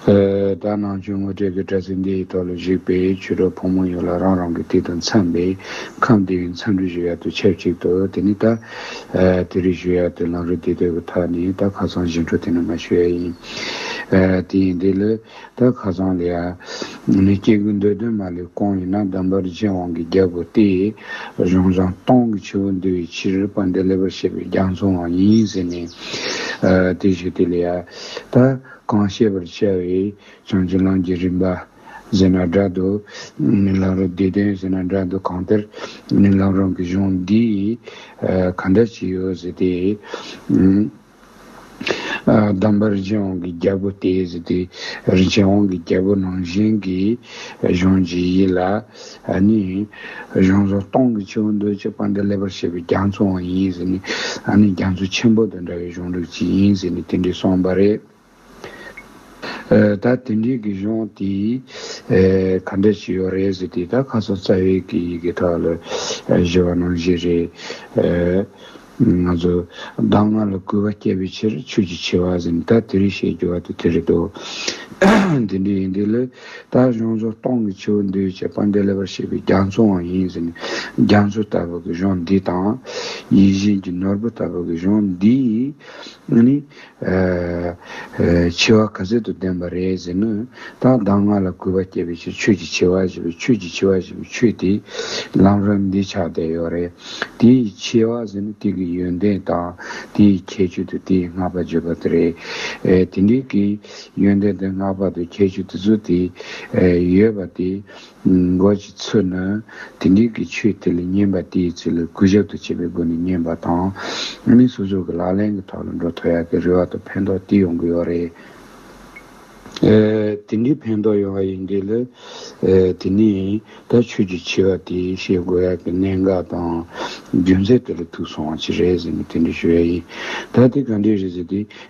ད་ནང་ཆོས་དངོས་སྤྲེལ་གྱི་སྤྲ་ཚིལ་འདི་ཡི་ཐོག་ལ་བཞུགས་པའི་ཆོས་གྲོགས་ཕོ་མོ་ཡོད་ལ་རང་རང་གི་དུས་དང་འཚམས་པའི་ཁམས་དེ་བས་འཚམས་འདྲི་ཞུ་ཡག་ཏུ་ཆབས་ཅིག་ཏུ་དེ་ནི་ད་དེ་རིགས་ཞུ་ཡག་ཏུ་ལངས་རོགས་དེ་དོད་ཀྱི་ཐག་ནས་ད་ཁ་སང་བཞིན་འཕྲོ་དེ་ནི་མ་ཞུ་ཡག་ཡིན། དེ་ཡིན་དེ་ལས་ད་ཁ་སང་ལས་ཨ་ནི་སྐྱེ་རྒུ་མདོའི་སྡོད་མ་ལས་ཀོང་ཡིན་ན་བདམས་པར་རྗེ་དབང་གི་རྒྱལ་པོ་སྟེ་གཞུང་བཟང་སྟོང་གི་ཆུ་བོ་འདུལ་བའི་ཕྱིར་པ་འདི་ལེགས་པར་བཤད་པའི་རྒྱ་མཚོའང་ཡིན་ཟེར་ནས་དེ་ཞུ་དེ་ལས་ཨ། ད་གང་བཤད་པར་བྱ་བའི་བྱང་ཆུབ་ལམ་གྱི་རིམ་པ། ཟེར་ན་སྒྲ་སྡུག། མི་ལམ་རོ་བདེ་དོན་ཟེར་ན་སྒྲ་སྡུག་གང་ལྟར་མི་ལམ་རང་གི་གཞུང་འདི་ཡིས་ག་འདྲ་བྱས་ཡོད་ཟེར་ཏེ། གདམས་པ་རིན་ཆེན་དབང་གི་རྒྱལ་པོ་སྟེ་ཟེར་ཏེ། རིན་ཆེན་དབང་གི་རྒྱལ་པོ་ནང་བཞིན་གྱི་གཞུང་འཇིགས་ཡིད་ལ། ཨ་ནི། གཞུང་ཟོར་སྟོང་གི་ཆུ་བོ་འདུལ་བྱེད་དཔའ་འདྲེ་ཀླད་པར་བྱེད་པའི་རྒྱ་མཚོའང་ཡིན་ཟེར་ནས་ཨ་ནི་རྒྱ་མཚོ་ཆེན་པོ་དང་འདྲ་བའི་གཞུང་ལུགས་ཅིག་ཡིན་ཟེར་ནས་དེ་འདྲས་གསུངས་པ་རེད། ད་དེ་འདྲས་ཀྱི་གཞུང་དེས་ག་འདྲ་བྱས་ཡོད་རེད་ཟེར་དུས་ད་ཁ་སང་རྩ་བའི་གི་ཡི་གེ་ཐོག་ལ་བཞེས་པ་ནང་བཞིན་རེད། ང་ཚོས་བདག་སྔགས་ལ་བསྐུལ་བ་བསྐྱེད་པའི་ཕྱིར་ཆོས་ཀྱི་ཆེ་བ་ཟིན་ལྟ་དེ་རིགས་བཤད་རྒྱུ་བ་དེ་དེ་རེད་དོ། དེ་འདྲའི་ཡིན་དུས་ལས་ད་གཞུང་ཚོ་སྟོང་གི་ཆེའུ་འདུལ་བྱེད་དཔལ་འགྲེལ་པར་བྱེད་པའི་རྒྱ་མཚོ་འང་ཡིན་ཟིན་རྒྱ་མཚོ་ལྟ་བུ་གི་གཞུང་འདི་དང། ཡིད་བཞིན་གྱི་ནོར་བུ་ལྟ་བུ་གི་གཞུང་འདིས་ནི། འཆི་བ་ག་ཚོད་དུ་ལྡན་པ་རེད་ཟེར་ན། ད་གདམས་ངག་ལ་གུས་པ་བསྐྱེད་པའི་ཕྱིར་ཆོས་ཀྱི་འཆི་བ་ཞེས་པའི་ཆོས་ཀྱི་འཆི་བ་ཞེས་པའི་ཆོས་དེ་ལམ་རིམ་འདི་ཆགས་བསྡད་ཡོད་རེད། དེའི་འཆི་བ་ཟེར་ན་དེ་གི་ཡོན་ཏན་དང་དེའི་ཁྱད་ཆོས་དུ་དེའི་བསྔགས་པ་བརྗོད་པ་དེ་རེད། དེ་འདྲའི་གི་ཡོན་ཏན་དང་བསྔགས་པ་དང་ཁྱད་ཆོས་དེ་ཚོ་དེ་ཡོད་པ་དེ་འགོག་བྱེད་ཚུལ་ནི། དེ་འབྲེལ་གྱི་ཆོས་དེ་ལ་བསྙེན་པ་དེའི་ཚུལ་ལ་གུས་ཞབས་དང་བཅས་པའི་སྒོ་ནས་བསྙེན་པ་དང། མི་སོ་སོ་གི་ལག་ལེན་གྱི་ཐོག་ལ་འགྲོ་ཐོ་ཡག་གི་རེ་བ་དང་ཕན་ཐོགས་དེ་ཡོང་གི་ཡོད་རེད། དེ་འདྲའི་ཕན་ཐོགས་ཡོང་བ་ཡིན་དུས་ལ། དེ་ནས་ད་ཆོས་ཀྱི་ཆེ་བ་དེ་ཤེས་དགོས་ཡག་གི་གནད་འགག་དང། རྒྱུ་མཚན་དེ་ལ་ཐུག་སོང་བ་ཅི་རེད་ཟེར་ནས་དེ་འདྲ་ཞུ་ཡག་ཡིན། ད་དེ་ག་འདྲས་རེད་ཟེར་དུས།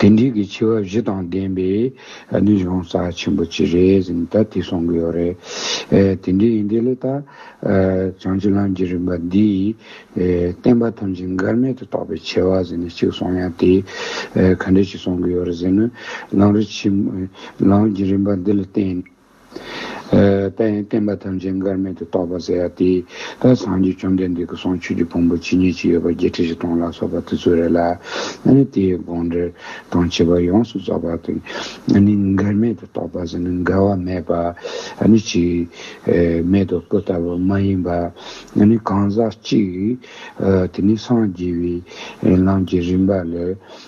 དེ་འབྲེལ་གྱི་ཆེ་བ་བཞི་དང་ལྡན་པས་ནི་གཞུང་རྩ་ཆེན་པོ་གཅིག་རེད་ཟེར་ནས་ད་དེ་གསུང་གི་ཡོད་རེད། དེ་འདྲའི་ཡིན་དུས་ལ་ད། བྱང་ཆུབ་ལམ་གྱི་རིམ་པ་འདིས། བསྟན་པ་ཐམས་ཅད་འགལ་མེད་དུ་རྟོགས་པའི་ཆེ་བ་ཟེར་ནས་གཅིག་གསུང་ཡང་དེས་ག་འདྲས་ཅིག་གསུང་གི་ཡོད་རེད་ཟེར་ན། ལམ་རིམ་གྱི་རིམ་པ་འདི་ལ་བརྟེན་ནས། དཔལ་ཡོན་བསྟན་པ་ཐམས་ཅད་འགལ་མེད་དུ་རྟོགས་པར་ཟེར་ཡ་དེ། ད་སངས་རྒྱས་བཅོམ་ལྡན་འདས་ཀྱི་གསུང་ཆོས་ཀྱི་ཕུང་པོ་ཇི་སྙེད་ཅིག་ཡོད་པ་བརྒྱད་ཁྲི་བཞི་སྟོང་ལ་སོགས་པ་དེ་ཚོ་རེད་ལ། ཨ་ནི་དེའི་དགོངས་འགྲེལ་དང་བྱེད་པ་ཡོངས་སུ་རྫོགས་པ་དང། ཨ་ནི་འགལ་མེད་དུ་རྟོགས་པ་ཟེར་ན་འགལ་བ་མེད་པ། ཨ་ནི་ཅི། མེད་དོ་སྐུ་ལྟ་བུ་མ་ཡིན་པ། ཨ་ནི་གང་ཟག་གཅིག། དེ་ནི་སངས་རྒྱས་པའི་ལམ་གྱི་རིམ་པ་ལས།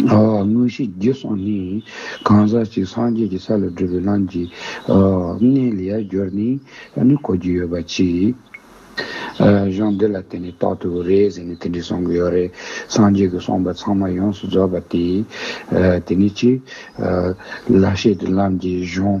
དངོས་གཞི་རྒྱུད་གསུམ་ནི། གང་ཟག་གཅིག་སངས་རྒྱས་ཀྱི་ས་ལ་བགྲོད་པའི་ལམ་གྱི། གནས་ལས་སྦྱོར་ནི། ནི་གོ་རྒྱུ་ཡོད་པ་གཅིག། གཞུང་འདི་ལ་བརྟེན་ནས་རྟག་ཏུ་རེད་ཟེར་ནས་དེ་འདྲའི་གསུང་གི་ཡོད་རེད། སངས་རྒྱས་ཀྱི་གསུངས་པ་ཚང་མ་ཡོངས་སུ་རྫོགས་པ་དེ། དེ་ནི་གཅིག། ལ་ཤེས་ཀྱི་ལམ་གྱི་གཞུང།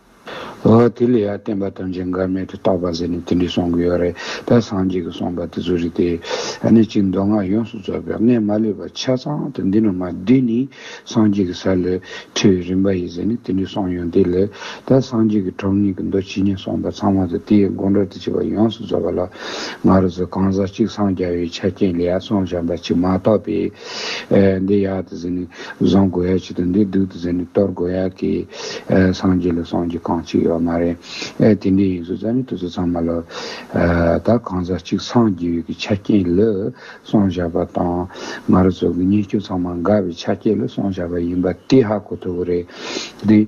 དེ་ལས་ཡར་བསྟན་པ་དོན་ཆེན་འགལ་མེད་དུ་རྟོགས་པ་ཟེར་ནས་དེ་འདྲས་གསུང་གི་ཡོད་རེད་དེ་སངས་རྒྱས་ཀྱི་གསུངས་པ་དེ་ཚོ་རེད་དེ། གནད་ཀྱི་མདོ་སྔགས་ཡོངས་སུ་རྫོགས་པའི་སྔས་མ་ལུས་པ་ཆ་ཚང་དུ་འདི་ན་མ་བསྡུས་ནས་སངས་རྒྱས་ཀྱི་ས་ལས་འཕྲོས་བའི་རིམ་པ་ཡིན་ཟེར་ནས་དེ་འདྲས་གསུངས་ཡོང་དེ་ལས་ད་སངས་རྒྱས་ཀྱི་གྲོང་ངེས་ཀྱི་མདོ་ཇི་སྙེད་གསུངས་པ་ཚང་མ་དང་དེའི་དགོངས་འགྲོལ་དུ་བྱས་པ་ཡོངས་སུ་རྫོགས་པ་ལ་ང་རོ་ཚོས་གང་ཟག་གཅིག་སངས་རྒྱ་བའི་ཆ་རྐྱེན་ལས་ཡར་སོང་བྱམས་པ་གཅིག་མ་གཏོགས་པའི་འདི་ཡག་ཏུ་ཟིན་ནས་བཟང་དགོས་ཡ་བྱེད་དང་འདི་སྡུག་ཏུ་ཟིན་ནས་སྟོར་དགོས་ཡ་གི། སངས་རྒྱས་ལ་སངས་རྒྱས་གང་གཅིག་ཡོད་མ་རེད། དེ་འདྲའི་ཡིན་ཟུར་ཙམ་ནས་དུས་ཚོད་ཚང་མ་ལོས། ད་གང་ཟག་གཅིག་སངས་རྒྱས་ཡོད་ཀྱི་ཆ་རྐྱེན་ལོས་སོང་བཞག་པ་དང། ང་རོ་ཚོ་གི་བརྙས་བཅོས་ཚང་མ་འགག་པའི་ཆ་རྐྱེན་ལོས་སོང་བཞག་པ་ཡིན་པ་དེ་ཧ་གོ་ཐུབ་པོ་རེད།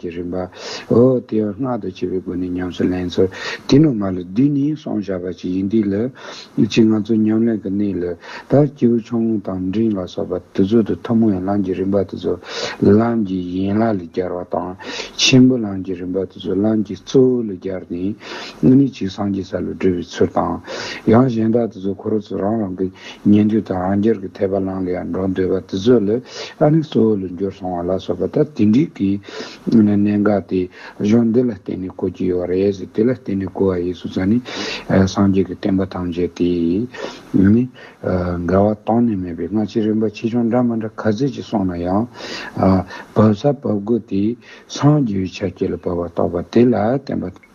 གྱི་རིམ་པ། འོ་དེ་ཡང་སྔགས་བཟླ་བྱེད་པའི་སྒོ་ནས་ཉམས་སུ་ལེན་ཚུལ། དེ་ནང་མ་ལ་བདུན་ནི་སོང་བྱ་བ་ཅིག་ཡིན་འདི་ལ། གཅིག་ང་ཚོ་ཉམས་ལེན་གྱི་གནས་ལ། ད་སྐྱེས་བུ་ཆུང་ངུ་དང་འབྲིང་ལ་སོགས་པ་དེ་ཚོ་དང་ཐུན་མོང་ཡན་ལག་གི་རིམ་པ་དེ་ཚོ་ལམ་གྱི་ཡན་ལག་ལས་སྦྱར་བ་དང། ཆེན་པོ་ལམ་གྱི་རིམ་པ་དེ་ཚོ་ལམ་གྱི་གཙོ་བོ་ལས་སྦྱར་ཏེ། ནི་གཅིག་སངས་རྒྱས་ས་ལ་བགྲོད་པའི་ཚུལ་དང། ཡང་གཞན་དག་དེ་ཚོ་ཁོ་རང་ཚོ་རང་རང་གི་ཉན་ཐོས་དང་རང་རྒྱལ་གྱི་འཐད་པ་ལང་ལ་ཡང་འགྲོ་འདོད་པ་དེ་ཚོ་ལ་ཨ་ནི་གཙོ་བོ་ལ་འགྱུར་སོང་བ་ལ་སོགས་པ་ལྟར་དེ་འདྲིའི་གི་གནད་འགག་དེ་གཞུང་འདི་ལ་བརྟེན་ནས་གོ་གྱི་ཡོད་བ་རེད་ཟེར་དེ་ལ་བརྟེན་ནས་གོ་བ་ཡིས་སུ་ཙ་ནི་སངས་རྒྱས་ཀྱི་བསྟན་པ་ཐམས་ཅད་དེ་ནི་འགལ་བ་གཏན་ནས་མེད་པས་སྔ་ཕྱི་རིམ་པ་ཆེ་ཆུང་འདྲ་མ་འདྲ་ག་ཚད་ཅིག་སོང་ན་ཡང་བབས་ས་བབས་དགོས་དེ་སངས་རྒྱས་པའི་ཕྱག་རྒྱ་ལ་བབས་པ་རྟོགས་པ་དེ་ལ་བརྟེན་པ་དང།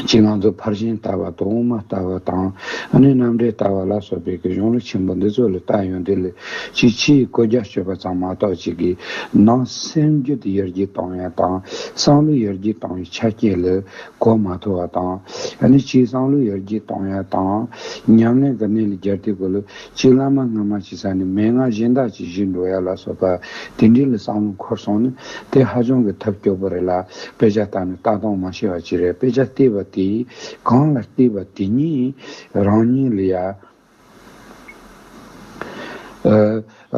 གཅིག་ང་ཚོ་ཕར་ཕྱིན་ལྟ་བ་དང་དབུ་མ་ལྟ་བ་དང་ནི་རྣམ་འགྲེལ་ལྟ་བ་ལ་སོགས་པའི་གི་གཞུང་ལུགས་ཆེན་པོ་འདི་ཚོ་ལ་ལྟ་ཡོང་དུས་ལ་གཅིག་ཕྱིའི་བཀོད་རྒྱ་སྤྱོད་པ་ཙམ་མ་གཏོགས་གཅིག་གི་ནང་སེམས་རྒྱུད་ཡར་རྒྱས་གཏོང་བའི་དང་བསམ་བློ་ཡར་རྒྱས་གཏོང་བའི་ཆ་རྐྱེན་ལ་གོ་མ་ཐུབ་པ་དང་ནི་གཅིག་བསམ་བློ་ཡར་རྒྱས་གཏོང་བའི་དང་ཉམས་ལེན་གྱི་གནས་ལ་རྒྱབ་སྟེགས་གོ་ལ་གཅིག་བླ་མ་སྔ་མ་ཅིག་ས་ནས་མན་ངག་གཞན་དག་ཅིག་བཞེས་འགྲོ་ཡ་ལ་སོགས་པ་དེ་འདྲའི་ལ་བསམ་བློ་འཁོར་སོང་ན་དེ་ཧ་ཅང་གི་ཐབས་སྐྱོ་པོ་རེད་ལ་དཔེ་ཆ་ལྟ་ན་ལྟ་སྟངས་མ་ཤེས་བ་ཅིག་རེད་དཔེ་ཆ་བལྟས་པ་དེ་གང་ལ་བལྟས་པ་དེ་ཉིད་རང་ཉིད་ལ་ཡ་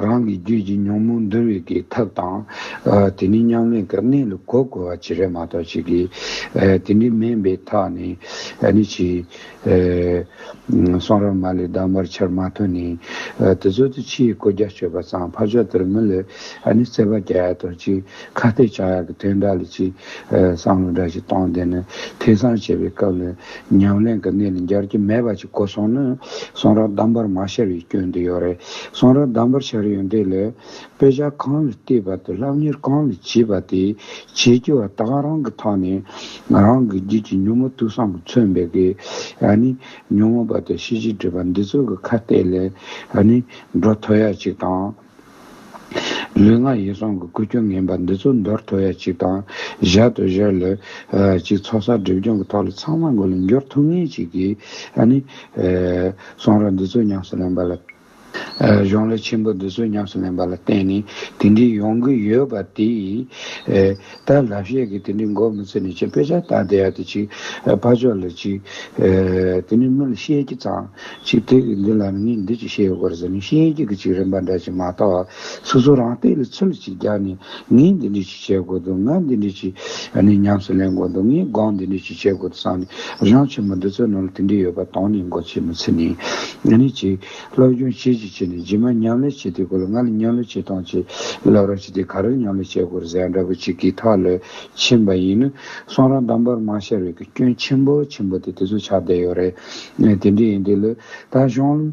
རང་གི་རྒྱུད་ཀྱི་ཉོན་མོངས་འདུལ་བའི་གི་ཐབས་དང་དེ་ནི་མཉམ་ལས་ཀྱི་གནས་ལ་གོ་དགོས་བ་ཅིག་རེད་མ་གཏོགས་ཅིག་གིས་དེ་འདྲའི་མེད་པའི་ཐག་ནས་ནི་ཅི། གསང་རབ་མ་ལས་བདག་འབར་ཆར་མ་ཐོན་ནས། དེ་ཚོལ་དུ་ཕྱི་ཡི་གོ་རྒྱ་གཅོད་པ་ཚང་ཕར་ཕྱོགས་དེར་མི་ལུས། ཨ་ནི་བརྩེ་བ་རྒྱ་ཡག་དང་གཅིག་ཁ་གཏད་ཆག་ཡག་གི་དོན་འདྲ་ལ་གཅིག། བསམ་བློ་འདྲ་ཞིག་བཏང་དེ་ནི་ཐེ་ཚང་བྱེད་པའི་སྐབས་ལ། ཉམས་ལེན་གྱི་གནས་ལ་འབྱར་གྱི་མེད་པ་ཅིག་གོ་སོང་ནི། གསང་རབ་བདག་འབར་མ་ཤར་བའི་སྐྱོན་དུ་ཡོད་རེད། གསང་རབ་བདག་འབར་ཤར་ཡོད་འདི་ལས། དཔེ་ཆ་གང་ལ་བལྟས་པ་དང་སློབ་གཉེར་གང་ལ་བྱས་པ་དེ་བྱེད་ཀྱི་བ་དག་རང་གི་ཐོག་ནས་རང་གི་རྒྱུད་ཀྱི་ཉོན་མོངས་དུག་སྲང་གི་མཚོན་པའི་གེ་ཡ་ནི་ཉོན་མོངས་པ་དང་ཤེས་བྱའི་སྒྲིབ་པ་འདི་ཚོ་གི་ཁ་གཏད་ལས་ནི་འགྲོ་ཐུབ་ཡ་གཅིག་དང། ལུས་ངག་ཡིད་གསུམ་གི་ཀུན་སྐྱོན་ངན་པ་འདི་ཚོ་འདོར་ཐུབ་ཡ་གཅིག་དང། གཞལ་དུ་བཞག་ལ་གཅིག་ཚོགས་བསགས་སྒྲིབ་སྦྱོང་གི་ཐོག་ལ་ཚང་མ་མགོ་ལ་འགྱུར་ཐུབ་ངེས་གཅིག་གིས་ནི། གསུང་རབ་འདི་ཚོ་ཉམས་སུ་ལེན་པ་ལ། གཞུང་ལས་ཆེན་པོ་འདི་ཚོས་ཉམས་སུ་ལེན་པ་ལ་བརྟེན་ནས་དེ་འདྲའི་ཡོང་གི་ཡོད་པ་དེས། ད་ལབ་ཤས་ཀྱི་དེ་འདྲའི་མགོ་མི་ཚོས་ནས་ཅིག་དཔེ་ཆ་བལྟ་བསྡད་ཡ་དེ་ཅིག་ཕར་ཕྱོགས་ལ་ཅིག། དེ་ནས་མི་ལ་བཤད་ཀྱི་ཙང་ཅིག་དེ་གི་འདི་ལ་ནི་ངས་འདི་ཅིག་བཤད་ཡོད་དགོས་རེད་ཟེར་ནས་བཤད་ཀྱི་གི་ཅིག་རིན་པ་འདྲ་ཅིག་མ་བལྟ་བར་སོ་སོ་རང་སྟེགས་ལ་ཚུར་ལ་ཅིག་རྒྱག་ནས་ངས་འདི་འདྲའི། བྱེད་དགོས་འདུག་ང་འདི་འདྲའི་ཆེད་ནས་ཉམས་སུ་ལེན་དགོས་འདུག་ངས་སྒང་འདི་འདྲའི་ཆེད་བྱེད་དགོས་འདུག་བསམ་ནས་རང་ཆེ་མོ་འདི་ཚོའི་ནང་ལ་དེ་འདྲའི་ཡོད་པ་དྭངས་ནས་མགོ་ཆེ་མོ་ཚིག་ནས་ཨ་ནི་ཅིག། སློབ་སྦྱོང་བྱེད་ཅིག་བྱས་ནས་རྗེས་མ་མཉམ་ལས་བྱེད་དེ་གོ་ལ་ང་ལ་མཉམ་ལས་བྱེད་དང་བྱེད་ལབ་རང་བྱེད་དེ་ག་རེར་མཉམ་ལས་བྱེད་དགོས་རེད་ཟེར་འདྲ་པོ་ཅིག་གིས་ཐག་ལོས་ཕྱིན་པ་ཡིན་ནི་སོང་རང་དང་འབར་མ་ཤར་བའི་གི་སྐྱོན་ཆེན་པོ་ཆེན་པོ་དེ་དེ་ཚོ་ཆགས་བསྡད་ཡོད་རེད། དེ་འདྲས་ཡིན་དེ་ལོས་ད་གཞུང།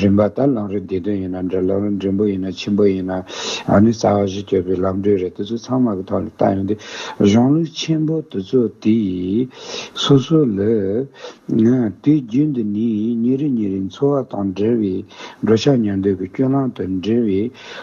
རིམ་པ་ལྟར་ལངས་རོལ་བདེ་དོན་ཡིན་ན་འདྲ་ལངས་རོལ་འགྲིམ་པོ་ཡིན་ན་འཆིང་པོ་ཡིན་ན་ནི་རྩ་བ་བཞི་གཅོད་པའི་ལམ་འགྲོས་རེད་དེ་ཚོ་ཚང་མ་གི་ཐོག་ནས་བལྟ་ཡོང་དུས་གཞུང་ལུགས་ཆེན་པོ་དེ་ཚོ་དེ་ཡིས་སོ་སོ་ལས། དུས་རྒྱུན་དུ་ནི་ཉིན་རེ་ཉིན་རེའི་འཚོ་བ་དང་འབྲེལ་བའི་འགྲོ་འཆག་ཉལ་འདོད་ཀྱི་སྐྱོན་ལམ་དུ་འབྲེལ་བའི་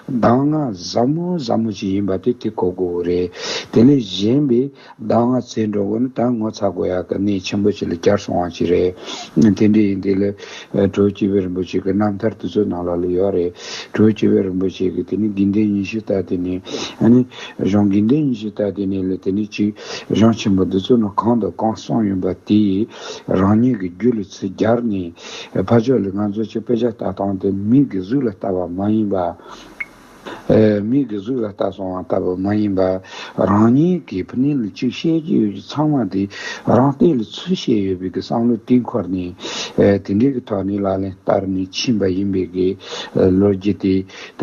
གདམས་ངག་ཟབ་མོ་ཟབ་མོ་ཞིག་ཡིན་པ་དེ་དེ་གོ་དགོས་རེད་དེ་ལས་གཞན་པའི། ཟླ་ལྔ་ཚེས་འགྲོ་དགོས་ན་ད་ངོ་ཚ་དགོས་ཡག་གི་གནས་ཆེན་པོ་ཞིག་ལ་བསྐྱར་སོང་བ་ཞིག་རེད། དེ་འདྲའི་ཡིན་དུས་ལས། དྲོད་སྐྱིད་པའི་རིན་པོ་ཆེ་གི་རྣམ་ཐར་དུས་ཚོད་ནང་ལ་ལུས་ཡོད་རེད། དྲོད་སྐྱིད་པའི་རིན་པོ་ཆེ་གི་དེ་ནས་དགེ་འདུན་ཉི་ཤུ་རྟ་དེ་ནས། ཨ་ནི། གཞུང་དགེ་འདུན་ཉི་ཤུ་རྟ་དེ་ནས་ལས་དེ་ནས་ཅིག། གཞུང་ཆེན་པོ་འདི་ཚོ་ནི་གང་དང་གང་གསུངས་ཡོད་པ་དེ། རང་ཉིད་ཀྱི་རྒྱུད་ལ་ཚིག་སྦྱར་ནས། ཕ་ཕྱོགས་ལས་ང་ཚོ་ཆེ་དཔེ་ཆ་ལྟ་སྟངས་དེ་མིག་གི་གཟུགས་ལ་ལྟ་བ་མ་ཡིན་པ། མིག་གི་གཟུགས་ལ་ལྟ་སོང་བ་ལྟ་བུ་མ་ཡིན་པར་རང་ཉིད་ཀྱིས་བུ་ནི་ལུས་གཅིག་བཤད་ཀྱི་ཡོད་ཀྱི་ཚང་མ་དེ་རང་བལྟས་ལུས་ཚུར་བཤད་ཡོད་པའི་བསམ་བློ་དེ་འཁོར་ནས་དེ་འདྲའི་གི་ཐོག་ནས་ལག་ལེན་བསྟར་ནས་ཕྱིན་པ་ཡིན་པའི་གི་ལོ་རྒྱུས་དེ་ད་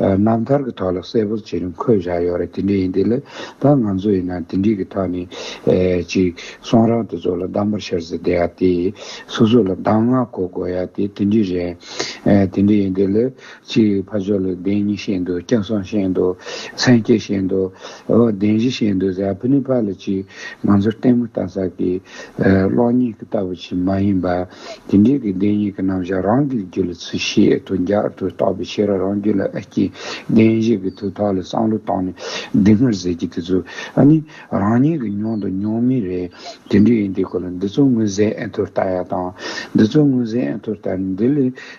རྣམ་ཐར་གི་ཐོག་ལ་གསལ་པོར་བྱེད་རིང་འཁོད་བཞག་ཡོད་རེད་དེ་འདྲ་ཡིན་དེ་ལས་ད་ང་ཚོ་ཡིན་ན་དེ་འདྲའི་གི་ཐོག་ནས་ཅིག་སོང་རང་དེ་ཚོ་ལ་གདམས་པར་ཤར་ཟེར་བསྡད་ཡ་དེ་སོ་སོ་ལ་གདམས་ངག་གོ་དགོས་ཡ་དེ་དེ་འདྲའི་རེད་དེ་འདྲ་ཡིན་དེ་ལས། ཅེས་ཕ་ཆོས་ལ་བདེན་གཉིས་བཤད་འདུག་སྐྱག་གསང་བཤད་འདུག་མཚན་སྐྱེ་བཤད་འདུག་འོ་བདེན་བཞི་བཤད་འདུག་གཟའ་ཕུ་ནུ་ཕ་ལ་གཅིག་ང་ཚོར་ལྟད་མོ་ལྟ་ས་ཀྱི་གློག་བརྙན་གྱི་ལྟ་བུ་ཞིག་མ་ཡིན་པ། དེ་འདྲའི་གི་བདེན་གཉིས་ཀྱི་རྣམ་བཞག་རང་གི་རྒྱུད་ལ་ཚུལ་བཞིན་དུ་རྒྱག་ཏུ་རྟོགས་པའི་ཕྱིར་རང་རྒྱུད་ལ་ཨེ་སྐྱེས་བདེན་བཞི་གི་ཐུགས་ཐག་ལ་བསམ་བློ་བཏང་ནས་སྡིག་སྔར་ཟེར་གྱི་དེ་ཚོ་ནི་རང་ཉིད་ཀྱི་མྱོང་དང་མྱོང་མིན་རེད་དེ་འདྲ་ཡིན་དེའི་སྐོར་ལ་འདི་ཚོ་དངོས་གཟས་ཨེ་འཐོར་ལྟ་ཡག་དང་འདི་ཚོ་དངོས་གཟས་ཨེ་འཐོར་ལྟ་ནས་འདི་ལས་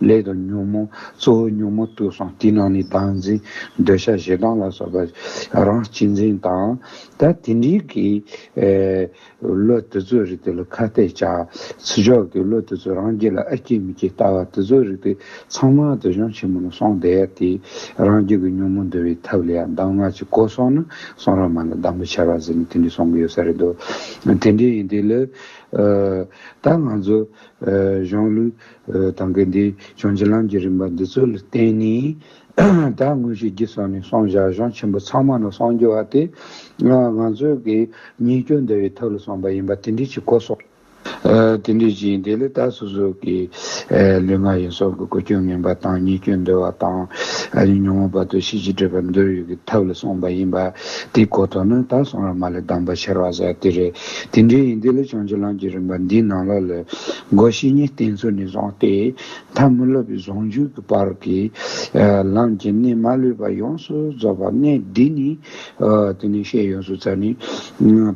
ལས་དང་ཉོན་མོངས་གཙོ་བོའི་ཉོན་མོངས་བཏུལ་སོང་དེའི་ནང་ནས་བདག་འཛིན་འདོད་ཆགས་ཞེ་སྡང་ལ་སོགས་པ་རང་གཅེས་འཛིན་དང། ད་དེ་འདྲའི་གི། བློ་དེ་ཚོའི་རིགས་དེ་ལ་ཁ་གཏད་བཅག། ཚུལ་འཆོས་ཀྱི་བློ་དེ་ཚོས་རང་རྒྱུད་ལ་ཨ་སྐྱིད་མི་སྐྱིད་ལྟ་བ་དེ་ཚོའི་རིགས་དེ་ཚང་མ་འདོད་ཆུང་ཆེན་མོ་ལ་སོང་བསྡད་དེ། རང་རྒྱུད་ཀྱི་ཉོན་མོངས་འདུལ་བའི་ཐབས་ལ་ཡང་གདམས་ངག་ཅིག་གོ་སོང་ན་སོང་ར་མ་ལ་གདམས་པ་ཆེ་བ་ཟེར་ནས་དེ་འདྲས་སོང་གི་ཡོད་ས་རེད་འདུག་དེ་འདྲས་ཡིན་དུས་ལ། ད་ང་ཚོ། གཞུང་ལུགས། དང་གི་འདི་བྱོན་རྗེ་ལམ་གྱི་རིམ་པ་འདི་ཚུལ་བསྟན་ནས། ད་དངོས་གཞི་རྒྱུད་སོགས་ནས་སོང་བཞག་གཞུང་ཆེན་པོ་ཚང་མ་ནོར་སོང་རྒྱུ་བ་དེ། ང་ཚོས་ཀྱི་ཉེས་སྐྱོན་འདའ་བའི་ཐབས་ལ་སོང་པ་ཡིན་པ་དེ་འདྲས་ཀྱི་གོ་སོགས། དེ་འདྲས་ཀྱི་ཡིན་དེ་ལས་ད་སོ་སོ་ཀྱི་ལུས་ངག་ཡིད་སོགས་ཀྱི་གོ་སྐྱོན་ངན་པ་དང་ཉེས་སྐྱོན་འདོད་བ་དང། ཉོན་མོངས་པ་དུ་ཤེས་ཀྱི་སྤྲོས་པ་འདོད་ཡོད་ཀྱི་ཐབས་ལ་སོང་པ་ཡིན་པ་དེ་གོ་དོ་ནི་ད་སོང་ར་མ་ལས་གདམས་པ་ཆེར་བ་ཟེར་བ་དེ་རེད། དེ་འདྲའི་ཡིན་དུས་ལ་བྱང་ཆུབ་ལམ་གྱི་རིམ་པ་འདིའི་ནང་ལ་ལོས་སྒོ་བཞི་གཉིས་བསྟན་ཚུལ་ནི་བཟང་སྟེ། ཐ་མི་ལོད་པའི་ཟུང་འཇུག་གི་བར་གྱི་ལམ་གྱི་གནད་མ་ལུས་པ་ཡོངས་སུ་རྫོགས་པ་གནད་འདི་ནི། དེ་ནས་ཤེས་ཡོངས་སུ་ཚར་ནི།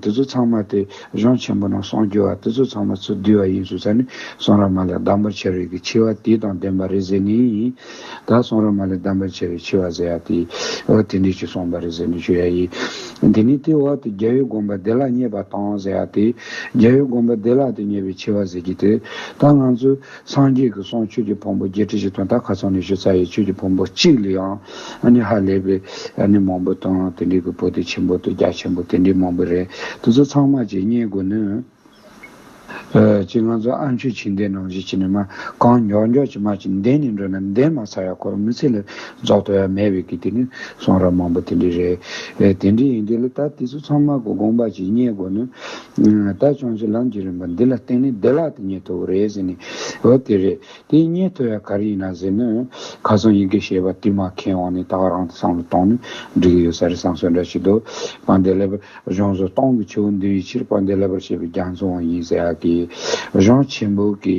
དེ་ཚོ་ཚང་མ་དེ་གཞུང་ཆེན་པོ་ནང་གསང་རྒྱུ་བ་དེ་ཚོ་ཚང་མ་ཚུར་བསྡུས་བ་ཡིན་ཞེས་ཚར་ནི་གསང་ར་མ་ལས་བདག་འབོར་ཆེ་རིགས་ཀྱི་ཆེ་བ་དེ་དང་ལྡན་པ་རེད་ཟེར་ནི། ད་སོང་ར་མ་ལས་གདམས་པར་བྱེད་པའི་འཆི་བ་ཟེར་ཡ་དེ། འོ་དེ་འདྲས་ཀྱིས་སོང་པ་རེད་ཟེར་ནས་ཞུ་ཡ་ཡི། དེ་ནས་དེས་འོ་དེ་རྒྱལ་བའི་དགོངས་པ་བདེ་ལགས་རྙེད་པ་དང་ཟེར་ཡ་དེ། རྒྱལ་བའི་དགོངས་པ་བདེ་ལགས་དེ་རྙེད་པའི་འཆི་བ་ཟེར་གྱི་དེ། ད་ང་ཚོས་སངས་རྒྱས་ཀྱི་གསུང་ཆོས་ཀྱི་ཕུང་པོ་བརྒྱད་ཁྲི་བཞི་སྟོང་དག་ག་ཚང་ནས་ཞུ་ཚར་ཡས་ཆོས་ཀྱི་ཕུང་པོ་གཅིག་ལ་ཡང་ཨ་ནི་ཧ་ལས་པའི་ཨ་ནི་མང་པོ་དང་དེ་འདྲས་ཀྱི་བུ་དེ་ཆེན་པོ་དང་རྒྱ་ཆེན་པོ་དེ་འདྲས་མང་པོ་རེད་དེ་ཚོ་ཚང་མ་ཀྱིས་རྙེད་དགོས་ནུས། ཅི་ང་ཚོ་ཨ་མཆོད་བྱིན་ལྡན་ནང་བཞིན་བྱིན་ནས་མ་གང་མགྱོགས་མགྱོགས་ཀྱིས་མ་ཅིག་འདས་ནས་འགྲོ་ན་འདས་མ་ཚར་ཡ་འཁོར་མི་ཚེ་ལ་རྫོགས་དོ་ཡ་མེད་བས་ཀྱི་དེ་ནི་གསུང་རབ་མང་པོ་དེ་འདྲས་རེད། དེ་འདྲས་ཡིན་དུས་ལ་ད་དེ་ཚོ་ཚང་མ་གོ་དགོངས་པ་ཅིག་རྙེད་དགོས་ནི། ད་བྱང་ཆུབ་ལམ་གྱི་རིམ་པ་འདི་ལ་བརྟེན་ནས་བདེ་བླག་ཏུ་རྙེད་ཐུབ་བོ་རེད་ཟེར་ནས་འོ་དེ་རེད། དེ་སྙེད་ཐོ་ཡ་ག་རེ་ཡིན་ན་ཟེར་ན། ཁ་སང་ཡི་གེ་ཞེས་པ་དེ་མ་མཁས་དབང་ནས་ད་བར་རང་བསམ་བློ་གཏོང་ནས་འབྲི་གི་ཡོད་ས་རེད་བསམ་ཚོད་འདྲ་བྱེད་འདུག་པ་འདི་ལེ་བར་གཞུང་བཟོ་སྟངས་ཀྱི་ཆུ་བོ་འདི་བའི་ཕྱིར་པ་འདི་ལེ་བར་བྱེད་པའི་རྒྱ་མཚོ་འང་ཡིན་ཟེར་ཡག་གི། གཞུང་ཆེན་པོ་གི་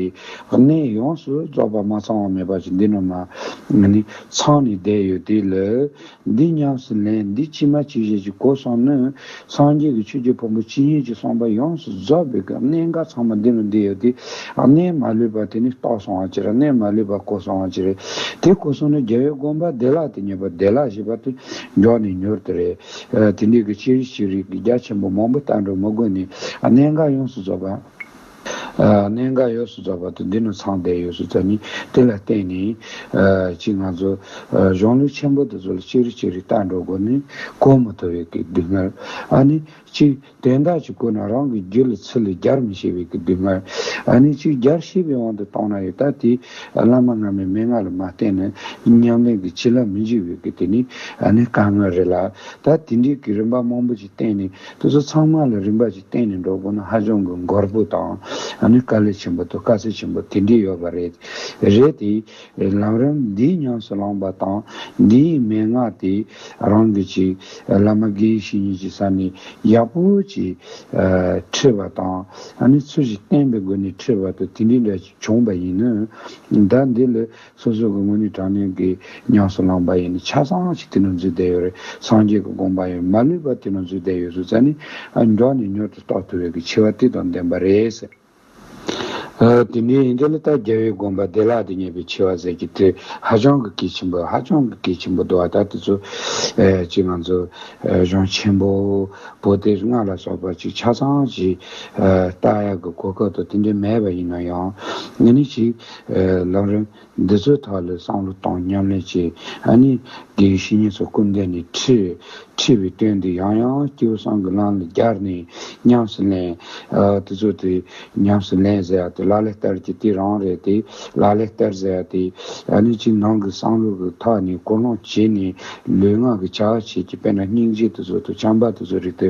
གནས་ཡོངས་སུ་རྫོགས་པ་མ་ཚང་བ་མེད་པ་ཅིག་འདི་རྣམས་ལ་ནི་ཚང་ནས་བསྡད་ཡོད་དུས་ལེ་འདི་ཉམས་སུ་ལེན་འདི་ཕྱི་མ་ཕྱི་བཞིན་གྱི་གོ་གསུངས་ནི། སངས་རྒྱས་ཀྱི་ཆོས་ཀྱི་ཕུང་པོ་ཇི་སྙེད་ཅིག་གསུངས་པ་ཡོངས་སུ་རྫོགས་པའི་སྐབས་གནས་འགའ་ཚང་མ་འདི་རུ་འདི་ཡོད་དེ། གནས་མ་ལུས་པ་དེ་ནི་རྟོགས་སོང་བ་ཅིར་གནས་མ་ལུས་པ་གོ་སོང་བ་ཅིར། དེ་གོ་སོང་ནས་རྒྱལ་བའི་དགོངས་པ་བདེ་བླག་དེ་ཉེས་པ་བདེ་བླག་ཞེས་པ་དེ་མགྱོགས་ནས་མྱུར་དུ་རེ། དེ་འདྲའི་གི་ཕྱིར་ཤེས་རིག་གི་རྒྱ་ཆེན་པོ་མང་པོ་ལྟ་འགྲོ་མི་དགོས་ནས་གནས་འགའ་ཡོངས་སུ་རྫོགས་པ། གནད་འགག་ཡོངས་སུ་རྫོགས་པ་དང་འདི་ནི་ཚངས་པའི་ཡོངས་སུ་རྫོགས་ནི་དེ་ལ་བརྟེན་ནས། གཅིག་ང་ཚོ་གཞུང་ལུགས་ཆེན་པོ་འདི་ཚོ་ལ་ཅིག་རིག་ཅིག་རིག་བརྟག་འགྲོ་དགོས་ནི་གོ་མི་ཐུབ་བའི་སྐད་སྡུག་བསྔལ། ཨ་ནི་གཅིག་དོན་དག་ཅིག་བཀོད་ན་རང་གི་རྒྱུད་ལ་ཚུལ་ལས་རྒྱར་མི་ཤེས་པའི་སྐད་སྡུག་བསྔལ། ཨ་ནི་གཅིག་རྒྱར་ཤེས་པའི་དབང་དུ་གཏོང་ན་ཡོད་ད་དེ་བླ་མ་སྔ་མའི་མན་ངག་ལ་མ་བརྟེན་ན་ཉམས་ལེན་གྱི་བྱིན་རླབས་མི་འཇུག་པའི་སྐད་དེ་ནི་ཨ་ནི་དཀའ་ངལ་རེད་ལ། ད་དེ་འདྲའི་སྐད་རིམ་པ་མང་པོ་ཅིག་བསྟན་ནས། དེ་ཚོ་ཚང་མ་ལ་རིམ་པ་གཅིག་བསྟན་ནས་འགྲོ་དགོས་ན་ཧ་ཅང་གི་འགོར་པོ་དང་ཨ་ནི་དཀའ་ལས་ཆེན་པོ་དང་དཀའ་ཚེགས་ཆེན་པོ་དེ་འདྲས་ཡོད་པ་རེད། རེད་དེ། ལམ་རིམ་འདིའི་ཉམས་སུ་བླངས་པ་དང་འདིའི་མན་ངག་དེ་རང་གི་ཅིག་བླ་མ་དགེ་བཤེས་གཉིས་ཀྱི་ས་ནས་ཡག་པོ་ཅིག་ཁྲིད་པ་དང་ཨ་ནི་ཚུལ་བཞིན་བསྟན་པའི་སྒོ་ནས་ཁྲིད་པ་དང་དེ་འདྲས་འདྲ་ཅིག་བྱུང་བ་ཡིན་ན། ད་འདི་ལ་སོ་སོ་གི་སྔོན་ནི་དྲང་སྙོམས་ཀྱི་ཉམས་སུ་བླངས་པ་ཡིན་ནི་ཆ་ཚང་བ་ཞིག་དེ་ནང་འཛུལ་བསྡད་ཡོད་རེད་སངས་རྒྱས་ཀྱི་དགོངས་པ་ཡང་མ་ལུས་པ་དེ་ནང་འཛུལ་བསྡད་ཡོད་ཟུར་ཟ་ནི་མགྱོགས་ནས་མྱུར་དུ་རྟོགས་ཐུབ་ཡོད་ཀྱི་འཆི་བ་དེ་དང་ལྡན་པ་རེད་ཟེར། དེ་འདྲའི་ཡིན་དུས་ལ་ལྟ་རྒྱལ་བོའི་དགོངས་པ་བདེ་བླག་ཏུ་ངེས་པའི་འཆི་བ་ཟེར་གྱི་དེ་ཧ་ཅང་གི་གལ་ཆེན་པོ་ཧ་ཅང་གི་གལ་ཆེན་པོ་འདུག་བ་ད་དེ་ཚོ་གཅིག་ང་ཚོ་གཞུང་ཆེན་པོ་པོ་སྟེ་སྔགས་ལ་སོགས་པ་ཅིག་ཆ་ཚང་ཞིག་བཏགས་ཡག་གི་གོ་སྐབས་དང་དེ་འདྲའི་མེད་པ་ཡིན་ན་ཡང་ང་ནི་ཞིག། ལགས། རེད་འདི་ཚོའི་ཐག་ལས་བསམ་བློ་བཏང་མཉམ་ལས་བྱས་ཨ་ནི། དེའི་བཤེས་གཉེན་ཚོ་སྐུ་འདས་ནས་ཁྲི། ཁྲི་བའི་དོན་འདི་ཡང་ཡང་སྐྱེ་བོ་སང་གི་ལམ་ལ་རྒྱར་ནས་ཉམས་སུ་ལེན། དེ་ཚོ་དེ་ཉམས་སུ་ལེན་ཟེར་ཡ་དེ་ལ་ལས་སྟར་གྱི་དེ་རང་རེད་དེ། ལ་ལས་སྟར་ཟེར་ཡ་དེ། ཨ་ནི་ཅི་ནང་གི་བསམ་བློ་གི་ཐག་ནས་ཀོ་ལོང་བྱས་ནས་ལུས་ངག་གི་བྱ་བ་བྱས་ཀྱི་དཔེར་ན་སྙིང་རྗེ་དེ་ཚོ་དང་བྱམས་པ་དེ་ཚོ་རིག་དེ།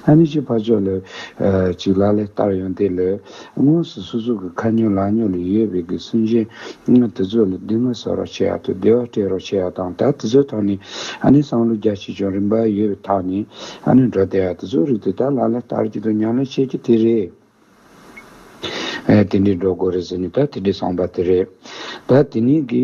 ཨ་ནི་ཅི་ཕ་ཕྱོགས་ལས། ཅིག་ལ་ལས་སྟར་ཡོང་དེ་ལས། དངོས་སུ་སོ་སོ་གི་ཁ་ཉོ་ལག་ཉོ་ལ་ཡོད་པའི་གི་སུན་གཞན་ངག་དེ་ཚོ་ལ་སྡིག་དམོད་བསགས་རོགས་བྱེད་ཡག་ཏུ་བདེ་བ་སྤྲད་རོགས་བྱེད་ཡག་དང་ད་དེ་ཚོའི་ཐོག་ནས་ཨ་ནེ་སང་ལོ་རྒྱ་ཆེ་ཆུང་རིམ་པ་ཡོད་པའི་ཐག་ནས་ཨ་ནེ་འགྲོ་བསྡད་ཡག་དེ་ཚོའི་རིགས་དེ་དག་ལ་ལ་ལྟར་གྱི་དོ་མཉམ་ལས་བྱེད་རྒྱུ་དེ་རེད། དེ་འདྲས་འགྲོ་དགོས་རེད་ཟེར་ནས་ད་དེ་འདྲས་སངས་པ་དེ་རེད། ད་དེ་ནས་གི།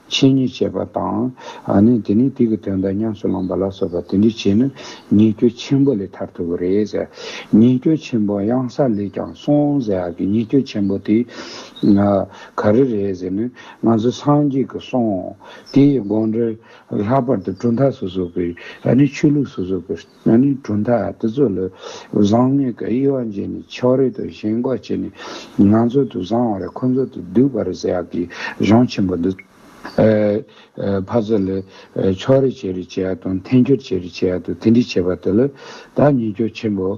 ཆེད་ཉེས་བྱས་པ་དང། ནི་དེ་ནས་དུས་ཀྱི་དོན་དང་ཉམས་སུ་བླངས་པ་ལ་སོགས་པ་དེ་འདྲའི་ཆེད་ནི་ཉེས་སྐྱོན་ཆེན་པོ་ལས་ཐར་ཐུབ་བོ་རེད། ཉེས་སྐྱོན་ཆེན་པོ་གཡང་ས་ལས་ཀྱང་སོང་ཟེར་ཡག་གི་ཉེས་སྐྱོན་ཆེན་པོ་དེ། ག་རེ་རེད་ཟེར་ནས་ང་ཚོ་སངས་རྒྱས་ཀྱི་གསུང་དེའི་དགོངས་འགྲེལ། ལྷག་པར་དུ་གྲུབ་མཐའ་སོ་སོ་གྱི་ནི་ཆོས་ལུགས་སོ་སོ་གྱི། ང་ནི་གྲུབ་མཐའ་དེ་ཚོ་ལ་བཟང་ངན་གྱི་དབྱེ་བ་འབྱེད་ནས་ཕྱོགས་རེ་དང་ཞེན་འགོག་བྱས་ནས་ང་ཚོ་དུ་བཟང་བ་རེ་ཁོ་ཚོ་དུ་སྡུག་བ་རེ་ཟེར་ཡག་གི་གཞུང་ཆེན་པོ་འདི། ཕ་ཚོ་ལ་ཕྱོགས་རེ་བྱེད་རེ་བྱེད་ཡག་དང་འཐེན་འཁྱེར་བྱེད་རེ་བྱེད་ཡག་དང་དེ་འདྲས་བྱེད་པ་དེ་ལ་ད་ཉེས་སྐྱོ་ཆེན་པོ་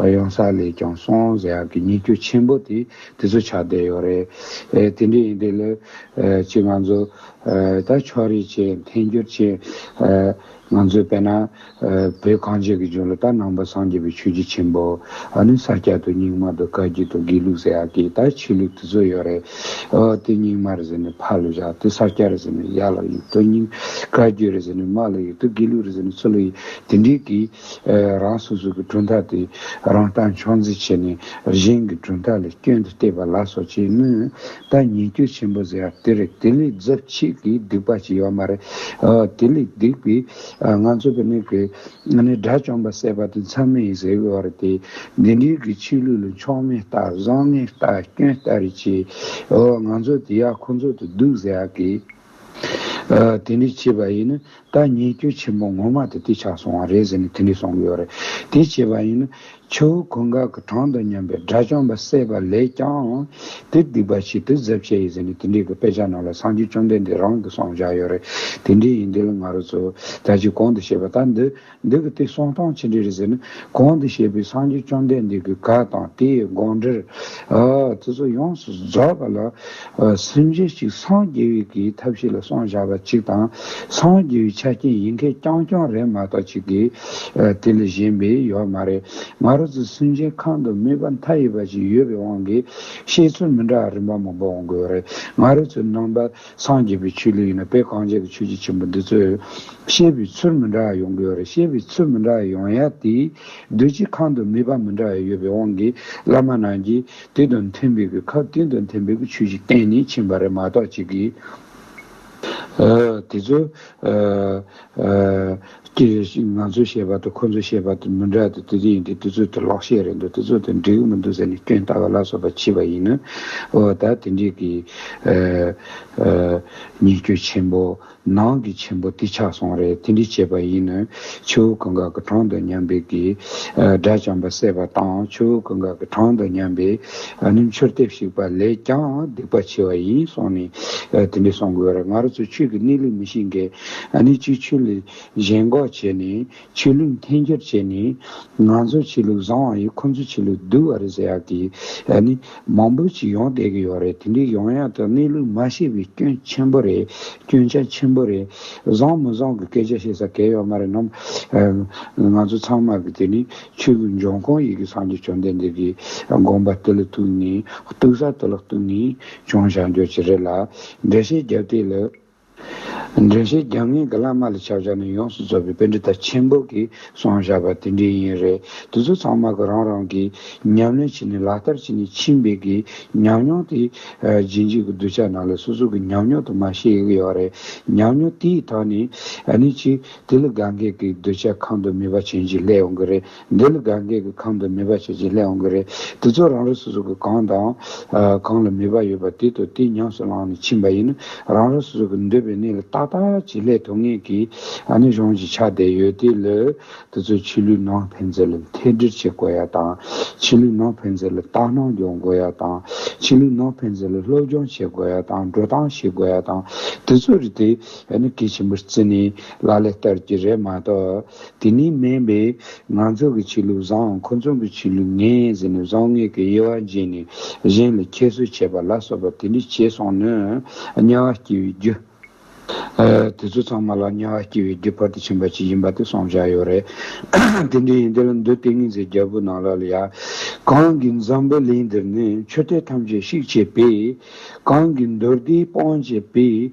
ཡོང་ས་ལས་ཀྱང་སོང་ཟེར་ཡག་གི་ཉེས་སྐྱོ་ཆེན་པོ་དེ་དེ་ཚོ་ཆགས་བསྡད་ཡོད་རེད། དེ་འདྲས་ཡིན་དུས་ལ་ཅིག་ང་ཚོ་ད་ཕྱོགས་རེ་བྱེད་འཐེན་འཁྱེར་བྱེད། ང་ཚོས་བལྟས་ན། བོད་གངས་ཅན་གྱི་ལྗོངས་ལ་ད་ནང་པ་སངས་རྒྱས་པའི་ཆོས་རྒྱུད་ཆེན་པོ། ཨ་ནི་ས་སྐྱ་དང་རྙིང་མ་དང་བཀའ་བརྒྱུད་དང་དགེ་ལུགས་ཟེར་ཡག་གི་ད་ཆོས་ལུགས་དེ་ཚོ་ཡོད་རེད། ཨོ་དེ་རྙིང་མ་རེད་ཟེར་ནས་ཕར་ལ་བཞག་དེ་ས་སྐྱ་རེད་ཟེར་ནས་ཡར་ལ་གཡུག་དེ་རྙིང། བཀའ་བརྒྱུད་རེད་ཟེར་ནས་མར་ལ་གཡུག་དེ་དགེ་ལུགས་རེད་ཟེར་ནས་ཚུར་ལ་གཡུག་དེ་འདྲའི་གི། རང་སོ་སོ་གི་གྲུབ་མཐའ་དེ་རང་སྟངས་འཁྱོག་འཛིན་བྱས་ནས་གཞན་གི་གྲུབ་མཐའ་ལ་སྐྱོན་དུ་བལྟས་པ་ལ་སོགས་བྱས་མོད། ད་ཉེས་སྐྱོ་ཆེན་པོ་ཟེར་ཡག་དེ་རེད་དེ་ལས་རྫབ་མཆིས་ཀྱི་སྡིག་པ་ཞིག་ཡོད་མ་རེད་དེ་ལས་སྡིག་པའི་ང་ཚོ་གི་ནི་གི་ང་ནི་དགྲ་བཅོམ་པ་སད་པ་དེ་མཚམས་མེད་ཡིན་ཟེར་གི་བ་རེད་དེ་འདི་འདྲའི་གི་ཆོས་ལུགས་ལ་མཆོག་མེད་ལྟ་བཟང་ངན་ལྟ་སྐྱོན་ལྟ་རེ་བྱས་ཨོ་ང་ཚོ་དེ་ཡག་ཁོ་ཚོ་དེ་སྡུག་ཟེར་ཡག་གི། དེ་འདྲས་བྱས་པ་ཡིན་ན་ད་ཉེས་སྐྱོན་ཆེན་པོ་ངོ་མ་དེ་དེ་ཆགས་སོང་བ་རེད་ཟེར་ནས་དེ་འདྲས་གསུང་གི་ཡོད་རེད། དེ་བྱས་པ་ཡིན་ན་ཆུ་བོ་གོད་འགག་གི་གྲངས་དང་མཉམ་པའི་དགྲ་བཅོམ་པ་བསད་པ་ལས་ཀྱང་དེ་སྡིག་པ་ཞིག་དེ་གཟབ་བྱས་ཡིན་ཟེར་ནས་དེ་འདྲས་གི་དཔེ་ཆ་ནང་ལ་སངས་རྒྱས་བཅོམ་ལྡན་འདས་རང་གི་གསུང་བཞག་ཡོད་རེད། དེ་འདྲས་ཡིན་དེ་ལ་ང་རོ་ཚོས་ད་ཅིག་གོང་དུ་བཤད་པ་ལྟར་འདི། འདི་གི་དེ་གསུང་སྟངས་ཅི་འདྲས་རེད་ཟེར་ན། གོང་དུ་བཤད་པའི་སངས་རྒྱས་བཅོམ་ལྡན་འདས་ཀྱི་བཀའ་དང་དེའི་དགོངས་འགྲེལ། དེ་ཚོ་ཡོངས་སུ་རྫོགས་པ་ལ། སེམས་གཞི་གཅིག་སངས་རྒྱས་བའི་གི་ཐབས་ཤེས་ལ་སོང་བཞག་པ་གཅིག་དང། སངས་རྒྱས་བའི་ཆ་རྐྱེན་ཡིན་མཁན་རྐྱང་རྐྱང་རེད་མ་གཏོགས་གཅིག་གི། དེ་ལས་གཞན་པའི་ཡོད་མ་རེད། ང་རོ་ཚོའི་སེམས་ཅན་ཁམས་དུ་མོས་པ་མཐའ་ཡས་པ་ཞིག་ཡོད་པའི་དབང་གིས། བཤད་ཚུལ་མི་འདྲ་བ་རིམ་པ་མང་པོ་འོང་དགོས་རེད། ང་རོ་ཚོའི་ནང་པ། སངས་རྒྱས་པའི་ཆོས་ལུགས་ཡིན་ན་དཔེ་གང་སྤྱད་དུ་ཆོས་རྗེ་ཆེན་པོ་འདི་ཚོས་བཤད་པའི་ཚུལ་མི་འདྲ་བ་ཡོང་གི་ཡོད་རེད་བཤད་པའི་ཚུལ་མི་འདྲ་བ་ཡོང་ཡ་དེས་སྡོད་སྤྱི་ཁང་དུ་ནུས་པ་མི་འདྲ་བ་ཡོད་པའི་དབང་གིས་བླ་མ་རྣམས་ཀྱིས་དེ་དང་མཐུན་པའི་གི་ཁབ་དེ་དང་མཐུན་པའི་གི་ཆོས་ཤིག་བསྟན་ནས་ཕྱིན་པ་རེད་མ་གཏོགས་གཅིག་གིས་དེ་ཚོ་ཀྱི་རེད་ཞེས་ང་ཚོས་བཤད་པ་དང་ཁོ་ཚོས་བཤད་པ་དེ་མི་འདྲ་སྟེ་དེ་དེ་ཡིན་དུས་དེ་ཚོ་དེ་ལོག་བཤད་རེད་འདུག་དེ་ཚོ་དེ་འགྲིག་གི་མི་འདུག་ཟེར་ནས་སྐྱོན་བལྟ་བ་ལ་སོགས་པ་མཆིས་པ་ཡིན། འོ་ད་དེ་འདྲའི་གི། ཉེས་སྐྱོན་ཆེན་པོ། ནང་གི་ཆེན་པོ་དེ་ཆགས་སོང་རེད་དེ་འདྲའི་བྱས་པ་ཡིན། ཆུ་བོ་གངྒཱ་གི་གྲོང་དུ་མཉམ་པའི་གི། སྒྲ་བྱང་པ་སད་པ་དང་ཆུ་བོ་གངྒཱ་གི་གྲོང་དུ་མཉམ་པའི། ནི་མཆོར་ལྟེབ་ཞིག་པ་ལས་ཀྱང་སྡིག་པ་ཆེ་བ་ཡིན་གསུངས་ནས་དེ་འདྲའི་གསུང་དགོས་རེད་ང་རོ་ཚོས་ཆོས་ཀྱི་གནས་ལུགས་མི་ཤེས་འགལ་ནི་ཆུ་ཆུ་ལས་གཞན་འགོག་བྱས་ནས་ཆོས་ལུགས་འཐེན་འཁྱེར་བྱས་ནས་ང་ཚོ་ཆོས་ལུགས་བཟང་བ་ཡིན་ཁོ་ཚོ་ཆོས་ལུགས་སྡུག་བ་རེད་ཟེར་ཡག་གི་ནི་མང་པོ་ཞིག་ཡོང་བསྡད་གི་ཡོད་རེད་དེ་འདྲའི་ཡོང་ཡག་ཏུ་གནས་ལུགས་མ་ཤེས་པའི་སྐྱོན་ཆེན་པོ་རེད་སྐྱོན་ཆ་ཆེན་པོ་རེད་བཟང་མི་བཟང་གི་སྐད་ཆ་བཤད་ས་གལ་ཡོད་མ་རེད་ནམ། ང་ཚོ་ཚང་མ་གི་དེ་ནི་ཆོས་ལུགས་འབྱུང་ཁུངས་ཡི་གི་སངས་རྒྱས་བཅོམ་ལྡན་འདས་ཀི་དགོངས་པ་དེ་ལ་གཏུགས་ནས་གཏུགས་ས་དེ་ལ་གཏུགས་ནས་བྱུང་བྱ་འགྱོ་ཅི་རེད་ལ་འགྲེལ་བཤད་རྒྱབ་སྟེ་ལ་འགྲེལ་བཤད་རྒྱབ་ངེས་ཀྱི་བླ་མ་ལ་ཕྱག་བྱ་ནི་ཡོངས་སུ་རྫོགས་པའི་དཔེ་འགྲེལ་དང་ཆེན་པོ་གི་གསུང་བཞག་པ་དེ་འདྲའི་ཡིན་རེད་དེ་ཚོ་ཚང་མ་གི་རང་རང་གི་ཉམས་ལེན་བྱས་ནས་ལག་བསྟར་བྱས་ནས་ཕྱིན་པའི་གི་ཉམས་མྱོང་དེ་རྗེས་འཇུག་གི་གདུལ་བྱ་རྣམས་ལ་སོ་སོ་གི་ཉམས་མྱོང་དུ་མ་ཤེས་ཡོད་རེད་ཉམས་མྱོང་དེའི་ཐོག་ནས་ནི་ཅི་དེ་ལ་དགའ་འགལ་གི་གདུལ་བྱ་གང་དུ་མི་བ་བྱིན་གྱིས་ལྷད་ཡོང་གི་རེད་འདི་ལ་དགའ་འགལ་གྱི་ཁམས་དང་ནུས་པ་ཞེས་བྱའི་ལས་འོང་གི་རེད། དེ་ཚོ་རང་རེ་སོ་སོ་གི་གང་དང། གང་ལ་ནུས་པ་ཡོད་པ་དེ་དང་དེ་ཉམས་སུ་བླངས་ནས་ཕྱིན་པ་ཡིན་ན་རང་རང་སོ་སོ་གི་འདོད་པའི་གནས་ལ་ཏག་ཏག་བྱེད་ལས་ཐུབ་ངེས་ཀྱི་ནི་གཞུང་གིས་ཆ་བསྡད་ཡོད་དེ་ལས། དེ་ཚོས་ཕྱི་ལུས་ནང་ཕན་ཚུན་ལ་ཐད་སྦྲེལ་བྱེད་དགོས་ཡ་དང། ཕྱི་ལུས་ནང་ཕན་ཚུན་ལ་ལྟ་སྣང་སྦྱོང་དགོས་ཡ་དང། ཕྱི་ལུས་ནང་ཕན་ཚུན་ལ་སློབ་སྦྱོང་བྱེད་དགོས་ཡ་དང་འགྲོ་སྟངས་ཤེས་དགོས་ཡ་དང། དེ་ཚོ་རེད་དེ། ཡ་ནི་གལ་ཆེན་པོར་བརྩི་ནས་ལག་ལས་བསྟར་གྱི་རེད་མ་གཏོགས། དེ་ནི་སྨན་པས་ང་ཚོ་གི་བྱེད་ལུགས་བཟང་ཁོ་ཚོ་གི་བྱེད་ལུགས་ངན་ཟེར་ནས་བཟང་ངན་གྱི་དབྱེ་བ་འབྱེད་ནས་གཞན་ལ་ཁྱད་གསོད་བྱེད་པ་ལ་སོགས་པ་དེ་འདྲ་བྱས་སོང་ན་དམྱལ་བ་སྐྱེ་བའི་རྒྱུ། དེ་ཚོ་ཚང་མ་ལ་དམྱལ་བ་སྐྱེ་བའི་རྒྱུ་བར་དུ་ཕྱིན་པ་ཞིག་ཡིན་པ་དེ་སོང་བཞག་ཡོད་རེད། དེ་འདྲ་ཡིན་དེ་ལ་འདུག་ལྟས་ངན་ཟེར་རྒྱལ་པོ་ནང་ལ་ལ་ཡ། གང་གི་འཛམ་བུ་གླིང་འདིར་ནི་ཆོས་དད་ཐམས་ཅད་བཤིག་བྱས་པས། གང་གི་མདོ་སྡེའི་སྤང་བྱས་པས།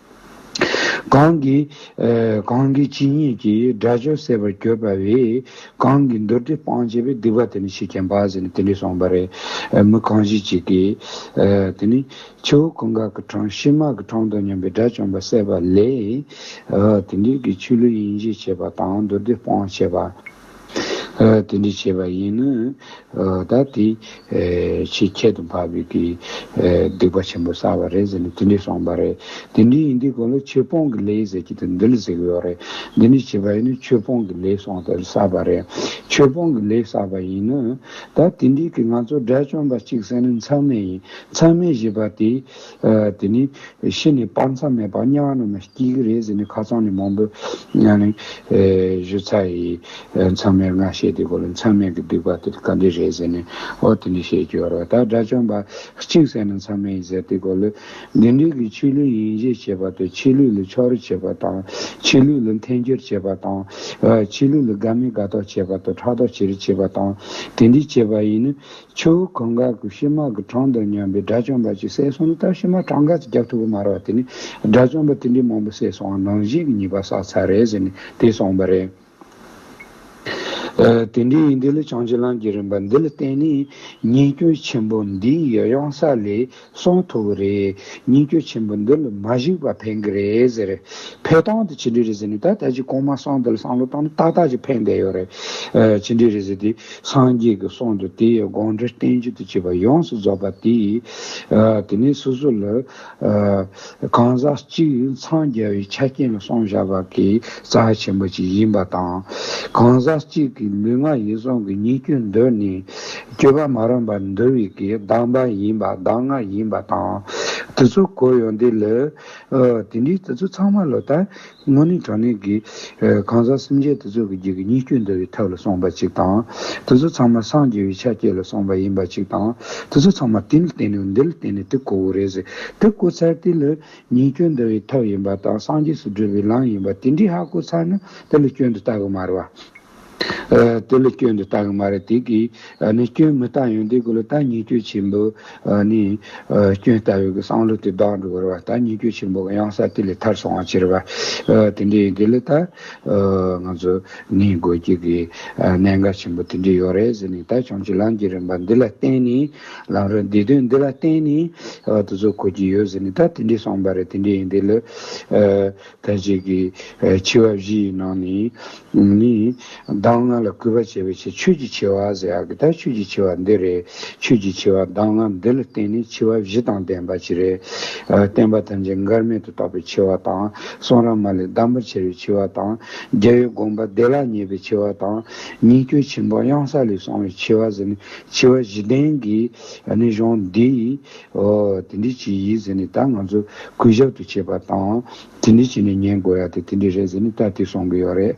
གང་གིས། གང་གིས་ཇི་སྙེད་ཀྱི་སྒྲ་ཆོས་གསལ་བར་གྱུར་པ་བས། གང་གིས་མདོ་སྡེ་སྤང་བྱས་པའི་སྡིག་པ་དེ་ནི་ཞེས་ཀྱང་འབའ་ཞིག་ནི་དེ་འདྲས་གསུངས་པ་རེད། མི་གང་ཞིག་ཅིག་གིས། དེ་ནི། ཁྱེའུ་ཀུན་དགའ་གི་འཕྲང་ཕྱི་མ་གི་འཕྲང་དང་མཉམ་པའི་སྒྲ་བྱུང་བ་གསལ་བ་ལས། དེ་འདྲས་ཀྱི་ཆོས་ལུགས་ཡིན་ཞེས་བྱ་བ་དང་མདོ་སྡེ་སྤང་བྱས་པ། དེ་འདྲའི་བྱེད་པ་ཡིན་ནོ། ད་དེ། ཆེས་ཁྱད་དུ་འཕགས་པའི་དེའི། སྡིག་པ་ཆེན་པོ་བསགས་པ་རེད་ཟེར་ནས་དེ་འདྲའི་གསུངས་པ་རེད། དེ་འདྲའི་ཡིན་དུས་གང་ལོ་ཆོས་སྤོང་གི་ལས་ཟེར་གྱི་འདུག་འདི་ལ་ཟེར་གི་ཡོད་རེད། འདི་འདྲའི་བྱེད་པ་ཡིན་ནོ་ཆོས་སྤོང་གི་ལས་གསུངས་ཏེ་བསགས་པ་རེད། ཆོས་སྤོང་གི་ལས་བསགས་པ་ཡིན་ནོ། ད་དེ་འདྲའི་གི་ང་ཚོ་དགྲ་བཅོམ་པ་གཅིག་ཟེར་ནས་མཚང་མེད་ཡིན་མཚང་མེད་བཞེས་པ་དེ། དེ་ནས་ཤི་ནས་སྤང་མཚམས་མེད་པར་དམྱལ་བ་རྣམས་ལ་སྐྱེ་གི་རེད་ཟེར་ནས་ཁ་རྩང་ནས་མང་པོས་ཡང་ནི། གཞི་རྩ་ཡི། མཚམས་མེད་སྔར་བཤད་དེ་གོ་ལ་མཚམས་མེད་ཀྱི་སྡིག་པ་དེ་དག་འདི་རེད་ཟེར་ནས་ཨོ་དེ་ནས་བཤད་ཀྱི་རོ་ད་དགྲ་བཅོམ་པ་གཅིག་བསད་ན་མཚམས་མེད་ཡིན་ཟེར་དེ་གོ་ལོས། འདི་འདྲིས་ཀྱི་ཕྱི་ལུས་ཡིན་བཞེས་བྱེད་པ་དང་ཕྱི་ལུས་ལ་ཕྱོགས་རེ་བྱེད་པ་དང། ཕྱི་ལུས་ལ་འཐེན་འཁྱེར་བྱེད་པ་དང། ཕྱི་ལུས་ལ་དགའ་མི་དགའ་དོགས་བྱེད་པ་དང་ཕྲག་དོག་བྱེད་རེ་བྱེད་པ་དང། དེ་འདྲིས་བྱེད་པ་ཡིན་ནི། ཆུ་བོ་གང་གཱ་གུ་ཤྲི་དམག་གི་འཕྲང་དང་མཉམ་པའི་དགྲ་བཅོམ་པ་ཅིག་བསད་སོང་ལྟར་ཕྱི་མ་འཕྲང་ག་ཚོད་རྒྱག་ཐུབ་པ་མ་རག་དེ་ནས་དགྲ་བཅོམ་པ་དེ་འདྲའི་མང་པོ་བསད་སོང་ནང་བཞིན་གྱི་ཉེས་པ་བསགས་ཚར་རེད་ཟེར་ནས་དེ་སོང་པ་རེད། དེ་འདྲའི་ཡིན་དུས་ལ་བྱང་ཆུ་ལམ་གྱི་རིམ་པ་འདི་ལ་བརྟེན་ནས་ཉེས་སྐྱོན་ཆེན་པོ་འདི་ཡི་གཡང་ས་ལས་སོང་ཐུབ་ཀྱི་རེད། ཉིན་རྒྱུན་ཆེན་པོ་འདི་ལ་མ་གཞིགས་པར་ཕན་གྱི་རེད་ཟེར། ཕེ་ཐང་དེ་ཇི་འདྲའི་རེད་ཟེར་ནས་ད་ལྟ་ཅི་གོང་མ་སྲང་འདི་ལ་སང་ལོ་བཏང་ན་ཏག་ཏག་ཅིག་ཕན་བསྡད་ཡོད་རེད། ཇི་འདྲའི་རེད་ཟེར་དུས་སངས་རྒྱས་ཀྱི་གསུང་དང་དེའི་དགོངས་འགྲེལ་བསྟན་བཅོས་དུ་བྱས་པ་ཡོངས་སུ་རྫོགས་པ་དེས། དེ་ནས་སོ་སོ་ལ། གང་ཟག་གཅིག་འཚང་རྒྱ་བའི་ཆ་རྐྱེན་ལ་སོང་བཞག་པ་གི་རྩ་བ་ཆེན་པོ་ཅིག་ཡིན་པ་དང། གང་ཟག་གཅིག་གི་ལུས་ངག་ཡིད་གསུམ་གྱི་ཉིད་སྐྱོན་འདོད་ནི། སྤྱོད་པ་མ་རུངས་པར་འདུལ་བའི་གྱི་གདམས་པ་ཡིན་པ་གདམས་ངག་ཡིན་པ་དང། དེ་ཚོ་གོ་ཡོང་དུས་ལ། དེ་འདྲའི་དེ་ཚོ་ཚང་མ་ལོ་ལྟར་དངོས་གནས་དྲང་གནས་ཀྱི། གང་ཟག་སེམས་ཅན་དེ་ཚོ་གི་རྒྱུད་ཀྱི་གཉིས་སྐྱོན་འདུལ་བའི་ཐབས་ལ་སོང་བ་ཅིག་དང། དེ་ཚོ་ཚང་མ་སངས་རྒྱས་པའི་ཕྱག་རྒྱས་ལ་སོང་བ་ཡིན་པ་ཅིག་དང། དེ་ཚོ་ཚང་མ་དེ་ལ་བརྟེན་ནས་འདི་ལ་བརྟེན་ནས་དེ་གོ་བོ་རེད་ཟེར། དེ་གོ་ཚར་དེ་ལ་གཉིས་སྐྱོན་འདུལ་བའི་ཐབས་ཡིན་པ་དང་སངས་རྒྱས་སུ་བགྲོད་པའི་ལམ་ཡིན་པ་དེ་འདྲའི་ཧ་གོ་ཚར་ན་དེ་ལ་སྐྱོན་དུ་བལྟ་གི་མ་རེད་བ། དེ་ལ་སྐྱོན་དུ་བལྟ་གི་མ་རེད་དེ་གིས་ནི་སྐྱོན་མི་བལྟ་ཡོང་དེ་གི་ལ་ད་ཉེས་སྐྱོན་ཆེན་པོ་ནི་སྐྱོན་བལྟ་ཡོད་གི་སང་ལོ་དེ་བདག་འགྲོ་གི་རེད་བ་ད་ཉེས་སྐྱོན་ཆེན་པོ་གི་གཡང་ས་དེ་ལས་ཐར་སོང་བ་ཅི་རེད་བ་དེ་འདྲས་ཡིན་དེ་ལ་ད་ང་ཚོ་ནི་དགོས་རྒྱུ་གི་གནད་འགག་ཆེན་པོ་དེ་འདྲས་ཡོད་རེད་ཟེར་ནི་ད་བྱུང་ཆུ་ལམ་གྱི་རིམ་པ་འདི་ལ་བརྟེན་ནི་ལམ་རིམ་འདི་དོན་འདི་ལ་བརྟེན་ནི་དུ་ཚོད་གོ་རྒྱུ་ཡོད་ཟེར་ནི་ད་དེ་འདྲས་སོང་བ་རེད་དེ་འདྲས་ཡིན་དེ་ལ། དེ་རྗེས་ཀྱི་ཆུ་བ་བཞི་ཡི་ནང་ནས་ནི། གདམས་ངག་ལ་གུས་པ་བྱེད་པའི་ཕྱིར་ཆོས་ཀྱི་ཆེ་བ་ཟེར་ཡག་གི་དག་ཆོས་ཀྱི་ཆེ་བ་འདི་རེད། ཆོས་ཀྱི་ཆེ་བ་གདམས་ངག་འདི་ལ་བརྟེན་ནས་ཆུ་བ་བཞི་དང་ལྡན་པ་ཅི་རེད། བསྟན་པ་ཐམས་ཅད་འགལ་མེད་དུ་རྟོགས་པའི་ཆེ་བ་དང། གསུང་ར་མ་ལས་བསྡམ་པར་བྱ་བའི་ཆེ་བ་དང། རྒྱལ་བའི་དགོངས་པ་བདེ་བླག་ངེས་པའི་ཆེ་བ་དང། ཉིད་སྐྱོད་ཆེན་པོ་གཡང་ས་ལས་གསུང་བའི་ཆེ་བ་ཟེར་ནས་ཆེ་བ་བཞི་ལྡན་གྱི་ནི་གཞུང་འདིའི། ཨོ། དེ་འདྲི་བྱེད་ཡིན་ཟེར་ནས་ད་ང་ཚོ་གུས་ཞབས་དུ་བྱེད་པ་དང། དེ་འདྲི་བྱེད་ནས་ཉན་དགོས་ཡ་དེ་དེ་འདྲི་རེད་ཟེར་ནས་ད་དེ་སོང་གི་ཡོད་རེད།